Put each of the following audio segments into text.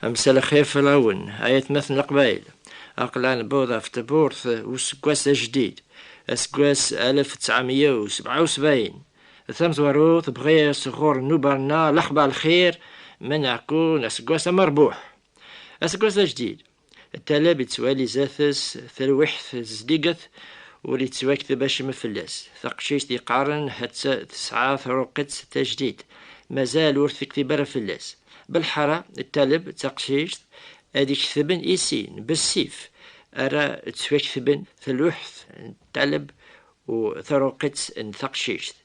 Amsal axir fell-awen, ay atmaten Leqbayel, aql-aɣ newweḍ ɣef tewwurt n useggas ajdid, aseggas alef d ttɛemya u sebɛa u sebɛin. D tamezwarut, bɣiɣ s ɣur nnuba-nneɣ lexbar lxir ma neɛku n aseggas amerbuḥ. Aseggas ajdid, ṭṭaleb yettwali zdat-s talwiḥt zeddiget, ur yettwakteb acemma fell-as. Taqcict yeqqaren hatta tesɛa taruqitt tajdidt, mazal ur tektib ara fell-as. Belḥara d taleb d taqcict ad iketben i sin, bessif ara ttwaketben tluḥt n taleb u taruqitt n taqcict.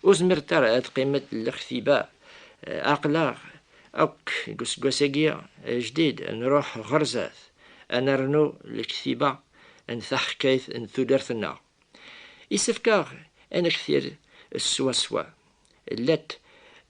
Ur zmiret ara ad qiment lextiba. Aql-aɣ akk deg useggas-agi ajdid, nruḥ ɣer zdat, ad nernu lektiba n taḥkayt n tudert-nneɣ. Yessefk-aɣ ad nektir swaswa, llat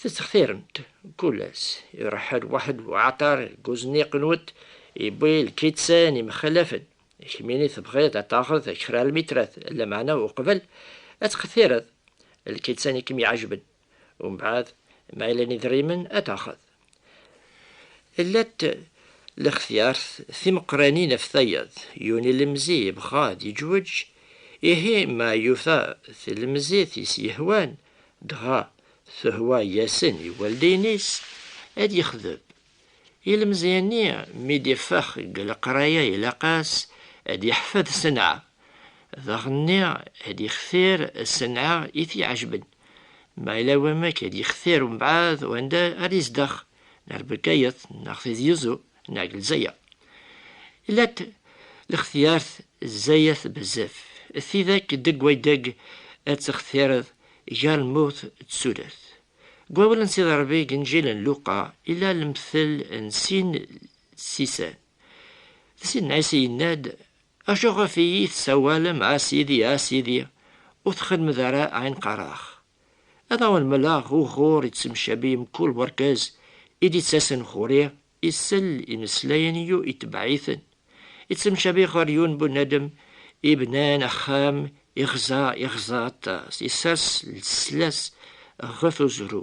Tettxtiremt kul ass iruḥ lwaḥed n uɛaṭar deg uzniq nwent, yewwi lkittsan imxalafen, kemmini tebɣiḍ ad taɣeḍ kra lmitrat, lameɛna uqbel ad txtireḍ lkittsan i kem-iɛejben, umbeɛd ma yellan idrimen ad taɣeḍ. Llant lextyart timeqqranin ɣef tayeḍ, yuni lemzi yebɣa ad yeǧweǧ, ihi ma yufa tlemzit i s-yehwan, dɣa tehwa yasen i waldeyen-is, ad yexdeb. Ilemzi-nni mi d-iffex deg leqraya ilaq-as ad yeḥfed senɛa, daɣenni ad yextir senɛa i t-iɛejben. Ma yella wamek i d-yextir umbeɛd wanda ara yezdeɣ, neɣ Lbegayet, neɣ Tizi Uzzu, neɣ deg Lezzayer. Ila-t lextyart zzayet bezzaf, d tidak deg wadeg ad textireḍ gar lmut d tudert. Deg wawal n Sidi Ṛebbi deg Inǧil n Luqa ila lemtel n sin tsisan. Di Sidna Ɛisa yenna-d, Acu ɣef iyi tessawalem a sidi a sidi ur txedmed ara ayen qqareɣ. Ad awen mleɣ uɣur yettemcabi mkul werkaz i d-yettasen ɣur-i isell imeslayen yu itebbeɛ-iten. Yettemcabi ɣer yun bunadem ibnan axxam iɣza iɣza aṭas, isers lslas ɣef uzru.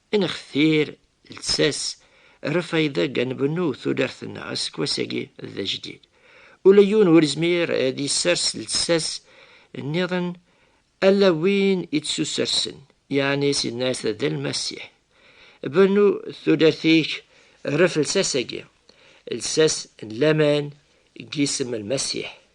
Nextir lsas rrfayda ga nbennu tudert-nneɣ aseggas-agi d ajdid. Ula yiwen ur izmir ad isers lsas nniḍen alla win i tsusersen, yeɛni Sidna Ɛisa d Lmasiḥ. Bennu tudert-ik rref lsas-agi, lsas n laman deg yisem n Lmasiḥ.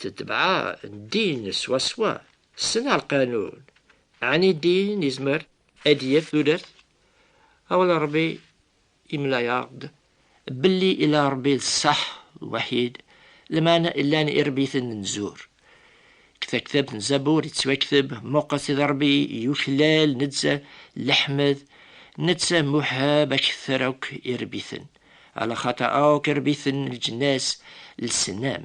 Tetbeɛ ddin swaswa s lqanun. Ɛni ddin yezmer ad d-yaf tudert? Awal Ṛebbi yemla-aɣ-d belli ila Ṛebbi d ṣṣeḥ lwaḥid, lmeɛna llan iṛebbiten n zzur. Deg taktabt n Zabur yettwakteb, Muqes id Ṛebbi yuklal, neţţa leḥmed, neţţa muḥab akter akk iṛebbiten, alaxaṭer akk iṛebbiten n leǧnas lsnam.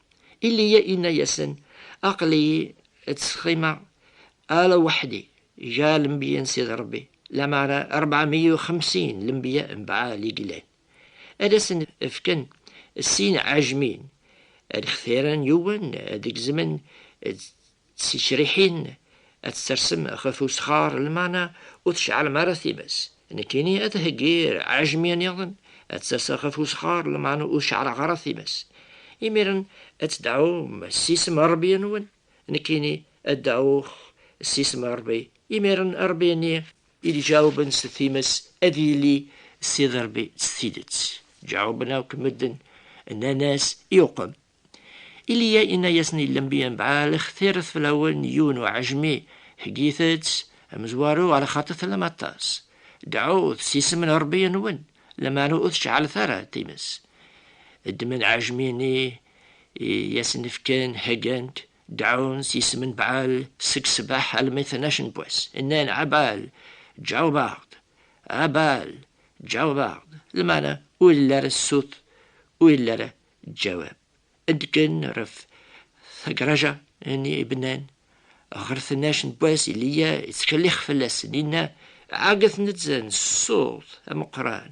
Ilya inna-yasen, Aql-iyi ttseqqimeɣ ala weḥd-i, ga lenbiya n Sidi Ṛebbi, lameɛna ṛebɛa meyya u xemsin lenbiya n Baɛal i yellan. Ad asen-fken sin ɛejmin, ad xtiren yiwen ad gezmen D ticriḥin ad testersem ɣef usxar lmeɛna ur tceɛlem ara times. Nekkini ad heggiɣ ɛejmiya niḍen ad tt-aseɣ ɣef usxar lmeɛna ur ceɛleɣ ara times. Imiren ad tedɛum s isem n Rebbi-nwen. Nekkini ad dɛuɣ s isem n Rebbi. Imiren Rebbi-nni. I d-iǧaɛuben s times ad yili Sidi Rebbi s tidet. Ǧaɛuben akk medden, nnan-as, Iqwem! Iliya inna-yasen i lembiya n Baal, Xtiret fell-awen yiwen uɛejmi, heggit-tt amezwaru ɣer xaṭi tellam aṭas. Dɛut s isem n Ṛebbi-nwen, lameɛna ur tceɛlet ara times. Ddmen aɛejmi-nni i asen-fkan, heggan-t, dɛun s isem n Baal seg ṣṣbeḥ almi tnac n wass, nnan, A Baal, ǧaweb-aɣ-d! A Baal, ǧaweb-aɣ-d! Lameɛna ur illi ara ṣṣut, ur illi ara Ǧawab, Ddgen ɣef tagraja n yibnan ɣer tnac n wass, Ilya yettkellix fell-asen, yenna, Ɛegget netta n ṣṣut ameqqran,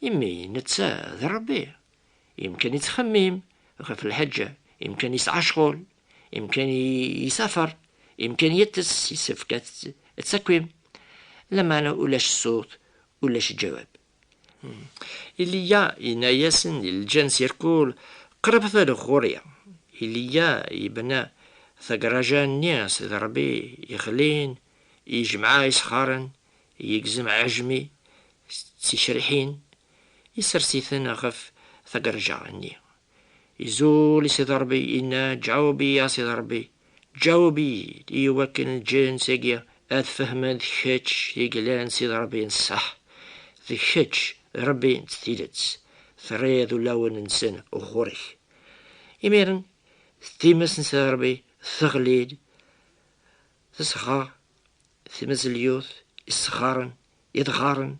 imi netta d Ṛebbi. Imkan yettxemmim ɣef lḥeǧǧa, imkan yesɛa ccɣel, imkan yessafar, imkan yeṭṭes, yessefk ad takim. Lameɛna ulac ṣṣut, ulac ǧawab. Iliya yenna-yasen i lǧens irkul, Qrabet ar ɣur-i. Iliya yebna tagraja-nni s iderbi yexlin, yejmeɛ isxaren, yegzem aɛejmi d ticriḥin, isers-iten ɣef tagraja-nni. Izul i Sidi Ṛebbi, inna, Ǧaweb-iyi a Sidi Ṛebbi, ǧaweb-iyi-d, i wakken lǧens-agi ad fehmen d kečč i yellan Sidi Ṛebbi n ṣṣeḥ, d kečč Ṛebbi n tidet, terriḍ ulawen-nsen ɣur-k. Imiren, times n Sidi Ṛebbi teɣli-d, tesɣer tmezlyut, isɣaren, idɣaren,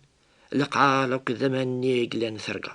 leqɛal akked aman-nni i yellan terga.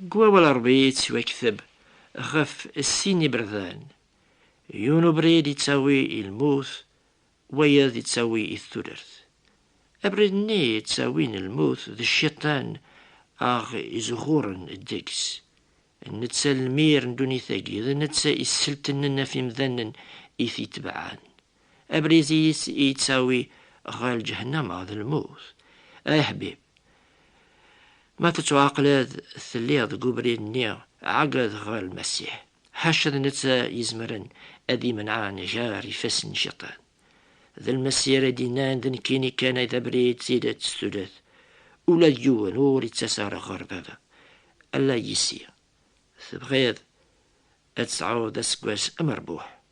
Deg wawal n Ṛebbi yettwakteb ɣef sin iberdan, yiwen ubrid yettawi i lmut, wayeḍ yettawi i tudert. Abrid-nni yettawin i lmut d Cciṭan aɣ-izuxuren deg-s. D netta lemir n ddunit-agi, d netta isseltenen ɣef yimdanen i t-itebɛen. Abrid i yi-yettawi ɣer lǧehennama d lmut. Ay aḥbib! Ma tettwaɛqleḍ telliḍ deg ubrid-nni, ɛeggeḍ ɣer Lmasiḥ, ḥaca d netta izemren ad d-imenɛen gar yifassen n Ciṭan. D Lmasiḥ ara d-innan d nekkini kan ay d abrid, d tidet, d tudert. Ula d yiwen ur yettas ara ɣer Baba, ala yis-i. Tebɣiḍ ad tesɛuḍ aseggas amerbuḥ?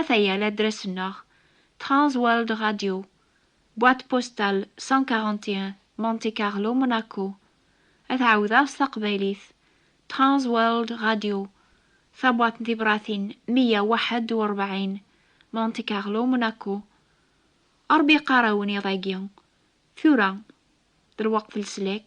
Ataya ladras-nneɣ, Trans World Radio, Boîte postale 141, Monte Carlo, Monaco. Ad ɛawdeɣ s taqbaylit, Trans World Radio, Tabwaṭ n tibṛatin meyya u ḥedd u ṛebɛin, Monte Carlo, Monaco. Ṛebbi iqqar-awen iḍ-agi, tura, d lweqt n leslak.